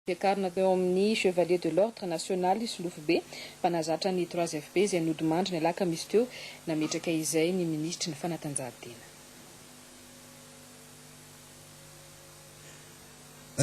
Voakarina teo amin'ny Chevalier de l'Ordre National i Solofobe, mpanazatra ny Trois FP izay nodimandry ny alakamisy teo, nametraka izay ny minisitry ny Fanatanjahantena.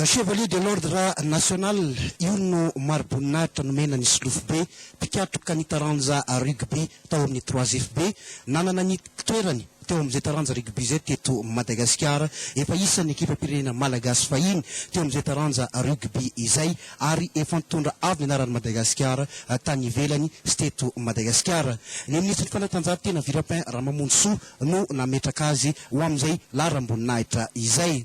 Chevalier de l'Ordre National io no mariboninahitra nomena an'i Solofobe, mpikatroka ny taranja Rugby tao amin'ny Trois FP, nanana ny toerany. teo amin'izay taranja rugby izay teto Madagasikara. Efa isan'ny ekipam-pirenena malagasy fahiny teo amin'izay taranja rugby izay ary efa nitondra avo ny anaran'i Madagasikara tany ivelany sy teto Madagasikara. Ny minisitry ny fanatanjahantena Virapin Ramamonjisoa no nametraka azy ho amin'izay laharam-boninahitra izay.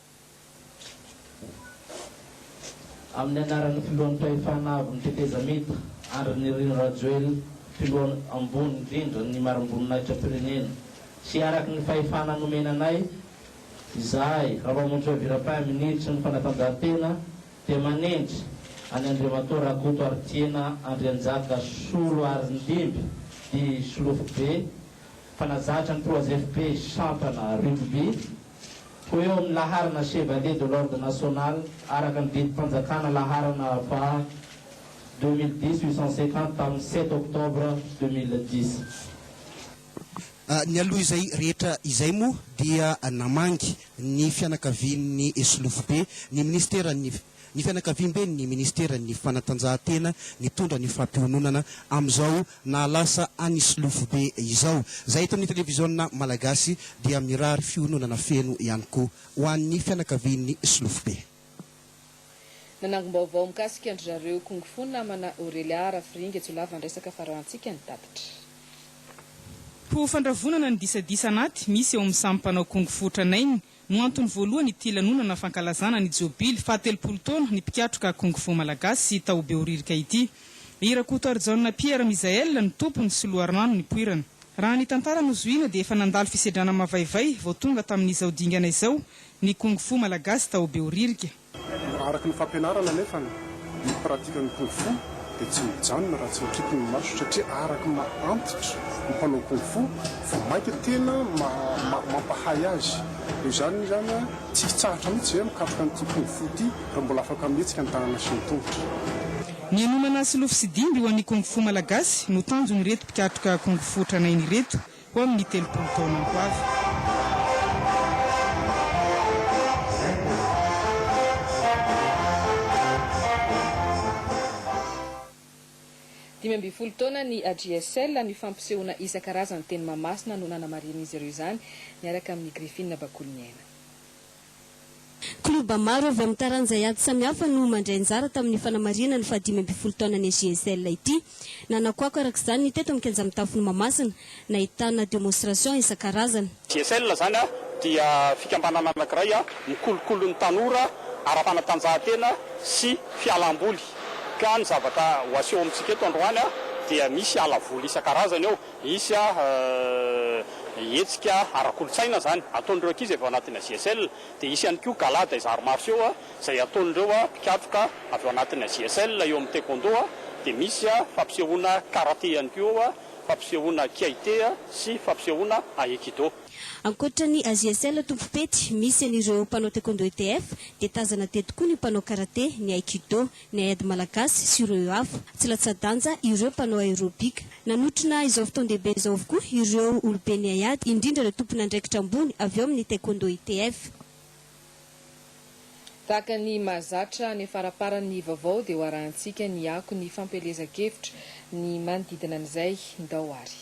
Amin'ny anaran'ny Filoham-pahefana Avon'ny Tetezamita, Andry Nirina Rajoelina, Filoha Ambony indrindra ny Marim-boninahitra-pirenena, sy araka ny fahefana nomena anay, izahay, Rampamonjy Ravirapin, Minisitry ny Fanatanjahantena, dia manendry an'i Andriamatoa Rakoto Haritiana Andrianjaka Soloarindimby, dit Solofobe, mpanazatra ny Trois FP sampana Rugby, ho eo amin'ny laharana Chevalier de l'Ordre National araka ny didim-panjakana laharana faha deux mille dix huit cent cinquante tamin'ny sept octobre deux mille dix. Nialoha izay rehetra izay moa dia namangy ny fianakavian'ny solofobe ny minisiteran'ny. Ny fianakaviamben'ny minisiteran'ny fanatanjahantena nitondra ny fampiononana amin'izao nahalasa an'i Solofobe izao, izay eto amin'ny televiziona malagasy, dia mirary fiononana feno ihany koa ho an'ny fianakavian'ny Solofobe. Nanangom-baovao mikasika an-dry zareo Kung Fu namana Aurelia Rafiringa jiolahy vandresaka fa rahantsika ny tatitra. Ho fandravonana ny disadisa anaty misy eo amin'ny samy mpanao Kung Fu tranainy No antony voalohany ity lanonana fankalazana ny Jobily fahatelopolo taona ny mpikatroka Kung Fu Malagasy tao Behoririka ity. I Rakotoarijaona Pierre Misael no tompony sy loharano nipoirana. Raha ny tantara no zohiana dia efa nandalo fisedrana mavaivay vao tonga tamin'izao dingana izao ny Kung Fu Malagasy tao Behoririka. Araka ny fampianarana anefa, ny pratikan'ny kung fu dia tsy mijanona raha tsy mikipy ny maso satria araka ny maha antitra ny mpanao kung fu, vao mainka tena mampahay azy. Noho izany izany, tsy hitsahatra mihitsy ve mikatroka an'ity kung fu ity raha mbola afaka mihetsika ny tanana sy ny tongotra? Ny hanomana silofo sy dimby ho an'ny kung fu malagasy no tanjon'ireto mpikatroka kung fu tranainy ireto. Ho amin'ny telopolo taona ho avy. Dimy ambin'ny folo taona ny AJSL. Ny fampisehoana isan-karazany teny Mahamasina no nanamarihan'izy ireo izany, niaraka amin'ny Griffin Bakoliniaina. Klioba maro avy amin'ny taranja ady samihafa no mandray anjara tamin'ny fanamarihana ny fahadimy ambin'ny folo taonan'ny AJSL ity. Nanakoako araka izany ny teto amin'ny kianja mitafon'i Mahamasina, nahitana demonstration isan-karazany. JSL izany dia fikambanana anankiray mikolokolo ny tanora ara-panatanjahantena sy fialam-boly, ka ny zavatra ho aseho amintsika eto androany dia misy ala voly isan-karazany ao. Hisy hetsika ara-kolontsaina izany ataon'ireo ankizy avy ao anatin'ny AJSL. Dia hisy ihany koa gala des arts martiaux izay ataon'ireo mpikatroka avy ao anatin'ny AJSL eo amin'ny taekwondo. Dia misy fampisehoana karate ihany koa, fampisehoana kiaite sy fampisehoana aekido. Ankoatra ny AJSL tompom-pety misy an'ireo mpanao taekwondo ETF dia tazana teto koa ny mpanao karate, ny aekido, ny haiady malagasy sy ireo hafa. Tsy latsa-danja ireo mpanao aérobika. Nanotrona izao fotoan-dehibe izao avokoa ireo oloben'ny haiady, indrindra ireo tompon'andraikitra ambony avy ao amin'ny Taekwondo ITF. Tahaka ny mahazatra any faramparan'ny vaovao dia ho arahantsika ny ako ny fampielezan-kevitra ny manodidina an'izay. Ndao ary.